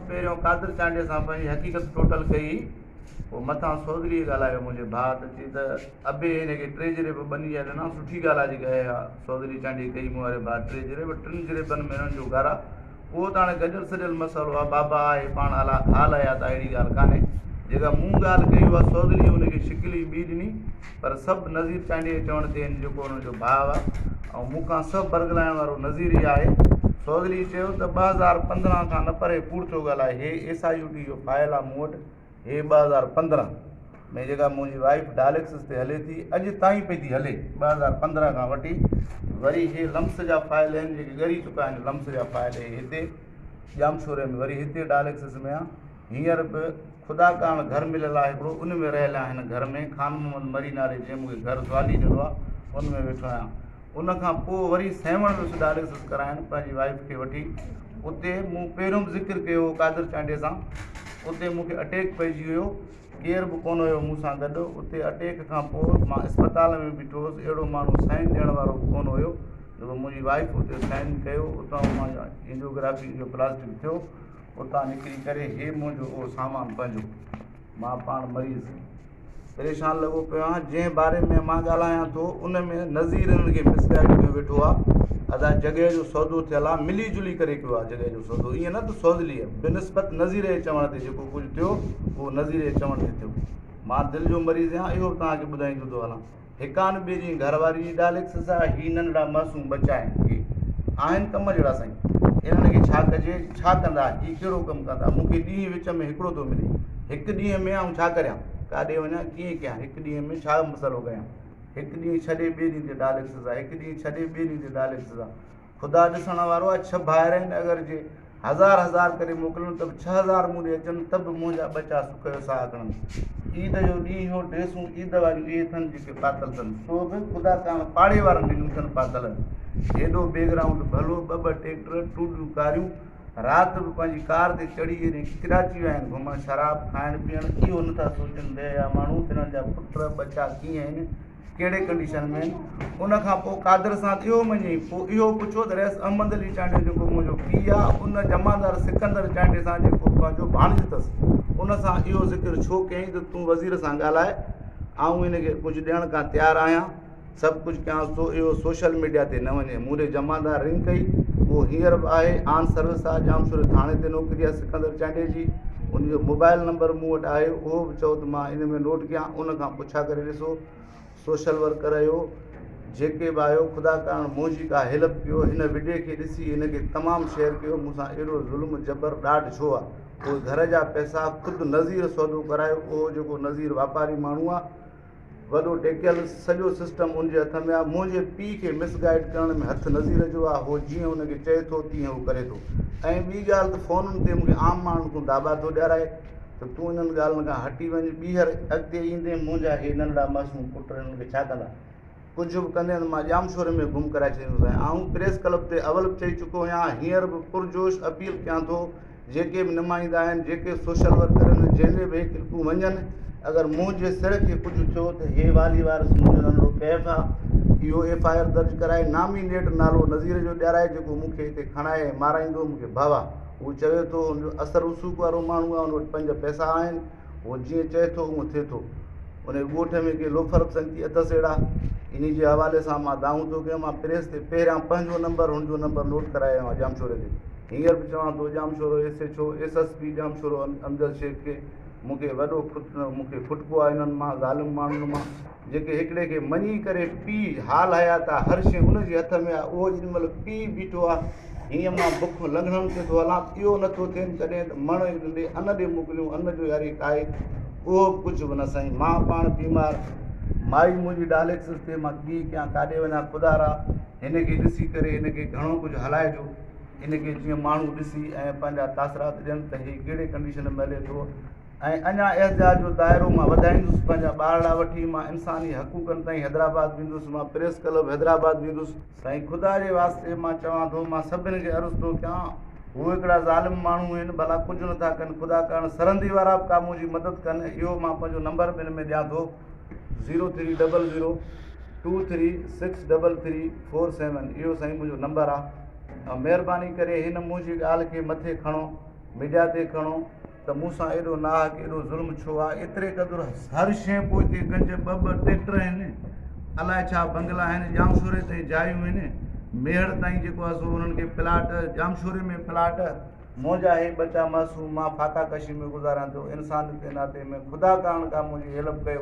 پهريون قادر چانڊيي سان پنهنجي حقيقت ٽوٽل ڪئي، پوء مٿان سوگريء ڳالهايو، منهنجي ڀاء ته چي ته ابي هن کي ٽي جريب ٻني جا ڏنا، سٺي ڳالهه آ جيڪا اهي اها سوگري چانڊيي ڪئي، مون واري ڀاء ٽي جريب، ٽن جريبن ۾ هنن جو گهر آ، اهو ته هاڻي گڏيل سڏيل مسئلو آ، بابا آ هي پاڻ حال حيات آ اهڙي ڳالهه ڪانهي، جيڪا مون ڳالهه ڪئي اها سوگريء هن کي شڪل ئي ٻي ڏني، پر سڀ نذير چانڊيي جي چوڻ تي آهن جيڪو انهن جو ڀاء آهي ۽ مون کان سڀ برغلائڻ وارو نذير ئي آهي. سوگلي چيو ته ٻه هزار پندرهن کان نه پري ڪوڙ ٿيو ڳالهائي هي ايس آء يو ٽي جو فائل آهي مون وٽ هي ٻه هزار پندرهن ۾ جيڪا منهنجي وائيف ڊائليڪسس تي هلي ٿي اڄ تائين پئي ٿي هلي ٻه هزار پندرهن کان وٺي وري هي لمس جا فائل آهن جيڪي ڳري چڪا آهن لمس جا فائل هي هتي ڄامشوري ۾ وري هتي ڊائليڪسس ۾ آهي هينئر به خدا ڪاڻ گهر مليل آهي هڪڙو ان ۾ رهيل آهن گهر ۾ خان محمد مري نالي جنهن مونکي گهر زوالي ڏنو آهي ان ۾ ويٺو آهيان ان کان پوء وري سيوهڻ ويس ڊائلسس ڪرائڻ پنهنجي وائيف کي وٺي اتي مون پهريون به ذڪر ڪيو هو قادر چانڊيي سان اتي مونکي اٽيڪ پئجي ويو ڪير به ڪونه هيو مون سان گڏ اتي اٽيڪ کان پوء مان اسپتال ۾ بيٺو هوس اهڙو ماڻهو سائن ڏيڻ وارو به ڪونه هيو جو منهنجي وائيف اتي سائن ڪيو اتان مان انجيوگرافي انجيوپلاسٽڪ ٿيو اتان نڪري ڪري هي منهنجو اهو سامان پنهنجو مان پاڻ مريض پريشان لڳو پيو آهيان جنهن باري ۾ مان ڳالهايان ٿو ان ۾ نظير هن کي مسگائيڊ ڪيو ويٺو آهي ادا جڳهه جو سودو ٿيل آهي ملي جلي ڪري ڪيو آهي جڳهه جو سودو ائين نه ته سوزلي آهي بي نسبت نظير جي چوڻ تي جيڪو ڪجهه ٿيو اهو نظير جي چوڻ تي ٿيو مان دل جو مريض آهيان اهو به توهان کي ٻڌائيندو ٿو هلان هڪان ٻئي جي گهر واري جي ڊاليڪسس آ هي ننڍڙا معصوم ٻچا آهن هي آهن ڪم جهڙا سائين انهن کي ڇا ڪجي ڇا ڪندا هي ڪهڙو ڪم ڪندا مون کي ڏينهن وچ ۾ هڪڙو ٿو ملي هڪ ڏينهن ۾ آئون ڇا ڪريان ڪاڏي وڃان ڪيئن ڪيان هڪ ڏينهن ۾ ڇا مسئلو ڪيان هڪ ڏينهن ڇڏي ٻئي ڏينهن تي ڊاليڪسس آ هڪ ڏينهن ڇڏي ٻئي ڏينهن تي ڊاليڪسس آ خدا ڏسڻ وارو آهي ڇهه ڀائر آهن اگر جي هزار هزار ڪري موڪلن ته به ڇهه هزار مون ڏي اچن ته به منهنجا ٻچا سک جو ساهه کڻن عيد جو ڏينهن هو ڊريسون عيد واريون اهي اٿن جيڪي پاتل اٿن سو به خدا ڪانه پاڙي وارن ڏنيون اٿن پاتل هيڏو بيگ رائونڊ ڀلو ٻه ٻه ٽيڪٽر ٽوڏيون ڪاريون رات به پنهنجي ڪار تي چڙهي ايڏي ڪراچي ويا آهن گهمڻ شراب کائڻ پيئڻ اهو نٿا سوچن بي حيا ماڻهو تنهن جا پٽ ٻچا ڪيئن آهن ڪهڙي ڪنڊيشن ۾؟ ان کان پوء قادر سان ٿيو مڃي، پوء اهو پڇو ته رئيس احمد علي چانڊيو جيڪو منهنجو پيء آ، ان جمعدار سڪندر چانڊيي سان جيڪو پنهنجو ڀاڻيجو اٿس، ان سان اهو ذڪر ڇو ڪيائين ته تون وزير سان ڳالهاء، آئون هن کي ڪجهه ڏيڻ ڪان تيار آهيان، سڀ ڪجهه ڪيانس ٿو، اهو سوشل ميڊيا تي نه وڃي. مون ڏي جمعدار رنگ ڪئي، اهو هينئر به آهي، آن سروس آ، ڄامشوري ٿاڻي تي نوڪري آ سڪندر چانڊيي جي، ان جو موبائل نمبر مون وٽ آهي، اهو به چئو ته مان ان ۾ نوٽ ڪيان، ان کان پوء. ڇا ڪري ڏسو سوشل ورڪر اھو جيڪي به آھيو خدا ڪرڻ منھنجي ڪا ھيلپ ڪيو ھن وڊيو کي ڏسي ھن کي تمام شيئر ڪيو مون سان اھڙو ظلم جبر ڏاڍ ڇو آ اھي گھر جا پيسا خود نظير سودو ڪرايو اھو جيڪو نظير واپاري ماڻھو آ وڏو ٽيڪيل سڄو سسٽم ان جي ھٿ ۾ آ منھنجي پي کي مس گائيڊ ڪرڻ ۾ ھٿ نظير جو آ ھو جيئن ان کي چئي ٿو تيئن ھو ڪري ٿو ۽ ٻي ڳالھ ته فونن تي مون کي عام ماڻھن کون داٻا ٿو ڏيارائي ته تون انهن ڳالهين کان هٽي وڃ. ٻيهر اڳتي ايندين منهنجا هي ننڍڙا معصوم پٽ انهن کي ڇا ڪندا؟ ڪجهه به ڪندين ته مان ڄامشوري ۾ گم ڪرائي ڇڏيندوسانء. آئون پريس ڪلب تي اول به چئي چڪو آهيان، هينئر به پرجوش اپيل ڪيان ٿو، جيڪي به نمائندا آهن، جيڪي سوشل ورڪر آهن، جنهن ڏي به هي ڪلپون وڃن، اگر منهنجي سر کي ڪجهه ٿيو ته هي والي وارث منهنجو ننڍڙو ڪيف آ، اهو ايف آء آر درج ڪرائي، نامينيٽ نالو نذير جو ڏيارائي، جيڪو مون کي هتي کڻائي ۽ مارائيندو، مون کي ڀو آ. هو چوي ٿو، هن جو اصل رسوخ وارو ماڻهو آهي، هن وٽ پنج پئسا آهن، هو جيئن چئي ٿو، اونء ٿئي ٿو. انهيء ڳوٺ ۾ ڪي لوفر به سنگتي اٿس اهڙا. انهيء جي حوالي سان مان دانهون ٿو ڪيان، مان پريس تي پهريان پنهنجو نمبر، هن جو نمبر نوٽ ڪرائي آيو آهيان ڄامشوري تي. هينئر به چوان ٿو، Jamshoro S H O, S S P Jamshoro Amjad Shaikh کي مون کي وڏو مون کي ڦٽڪو آهي انهن مان، ظالم ماڻهن مان. جيڪي هڪڙي کي مڃي ڪري پي حال هيا ته هر شي ان جي هٿ ۾ آهي اهو جن مهل پي بيٺو آهي هينئن مان بک لنگهڻن تي ٿو هلان اهو نه ٿو ٿين ڪڏهن ته مڻ اي ڏنڊي ان ڏي موڪليون ان جو ياري ڪائي اهو به ڪجهه به نه سائين مان پاڻ بيمار مائي منهنجي ڊاليڪسس تي مان ڪي ڪيان ڪاڏي وڃان خدارا هن کي ڏسي ڪري هن کي گهڻو ڪجهه هلائجو هن کي جيئن ماڻهو ڏسي ۽ پنهنجا تاثرات ڏين ته هي ڪهڙي ڪنڊيشن ۾ هلي ٿو ۽ اڃا احتجاج جو دائرو مان وڌائيندس پنهنجا ٻارڙا وٺي مان انساني حقوقن تائين حيدرآباد ويندس مان پريس ڪلب حيدرآباد ويندس. سائين خدا جي واسطي مان چوان ٿو مان سڀن کي عرض ٿو ڪيان هو هڪڙا ظالم ماڻهو هين ڀلا ڪجهه نٿا ڪن خدا ڪرڻ سرهندي وارا به ڪا منهنجي مدد ڪن اهو مان پنهنجو نمبر به هن ۾ ڏيان ٿو zero three double zero two three six double three four seven اهو سائين منهنجو نمبر آهي مهرباني ڪري هن منهنجي ڳالهه کي مٿي کڻو ميڊيا تي کڻو ته مون سان ايڏو ناحق ايڏو ظلم ڇو آ ايتري قدر هر شئي پوئتي ڪنج ٻه ٻه ٽيڪٽر آهن الاء ڇا بنگلا آهن ڄامشوري تائين جايون آهن ميهڙ تائين جيڪو آ سو انهن کي پلاٽ ڄامشوري ۾ پلاٽ منهنجا هي ٻچا معصوم مان فاقا ڪشي ۾ گذاريان ٿو انسانيت جي ناتي ۾ خدا ڪارڻ ڪا منهنجي هيلپ ڪيو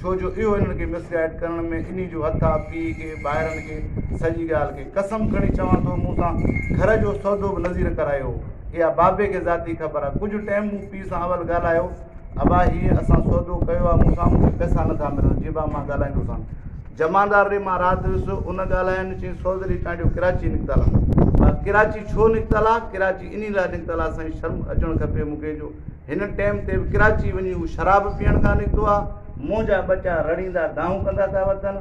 ڇو جو اهو هنن کي مسگائيڊ ڪرڻ ۾ انهي جو هٿ آ پيء کي ٻاهرن کي سڄي ڳالهه کي قسم کڻي چوان ٿو مون سان گهر جو سودو به نذير ڪرايو هو اها بابي کي ذاتي خبر آ ڪجهه ٽيم مون پيء سان اول ڳالهايو ابا هي اسان سودو ڪيو آ مون سان مون کي پئسا نه ٿا ملن جي ابا مان ڳالهائيندو سان جمعدار ري مان رات هيس ان ڳالهاين چين سوزري چانڊيو ڪراچي نڪتل آ ڪراچي ڇو نڪتل آ ڪراچي انهي لاء نڪتل آ سائين شرم اچڻ کپي مون کي جو هن ٽئم تي به ڪراچي وڃي هو شراب پيئڻ ڪا نڪتو آ. منهنجا ٻچا رڙيندا دانهون ڪندا پيا وتن.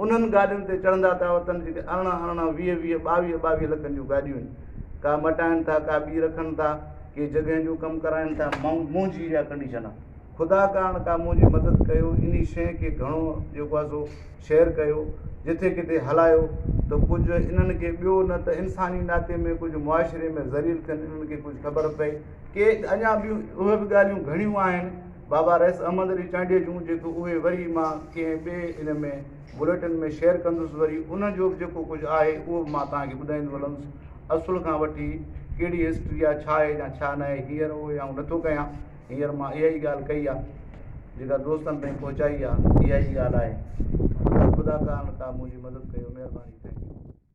انهن گاڏين تي چڙهندا پيا وتن جيڪي ارڙهن ارڙهن، ويهه ويهه، ٻاويهه ٻاويهه لکن جون گاڏيون آهن. ڪا مٽائن ٿا ڪا ٻي رکن ٿا. ڪي جڳهين جو ڪم ڪرائين ٿا. منهنجي اها ڪنڊيشن آ. خدا ڪارڻ ڪا منهنجي مدد ڪيو. انهي شيء کي گهڻو جيڪو آ سو شيئر ڪيو. جٿي ڪٿي هلايو ته ڪجهه انهن کي ٻيو نه ته انساني ناتي ۾ ڪجهه معاشري ۾ ذليل ٿين انهن کي ڪجهه خبر پئي. ڪي اڃا به اهي به ڳالهيون گهڻيون آهن بابا رئيس احمد علي چانڊيي جون جيڪو اهي وري مان ڪنهن ٻئي ان ۾ بليٽن ۾ شيئر ڪندس وري ان جو به جيڪو ڪجهه آهي اهو به مان توهان کي ٻڌائيندو هلندس اصل کان وٺي ڪهڙي هسٽري آهي ڇا آهي يا ڇا نه آهي هينئر اهي آئون نٿو ڪيان هينئر مان اها ئي ڳالهه ڪئي آهي جيڪا دوستن تائين پهچائي آهي اها ئي ڳالهه آهي خدا خدا ڪا نه ڪا منهنجي مدد ڪيو مهرباني ٿينڪ يو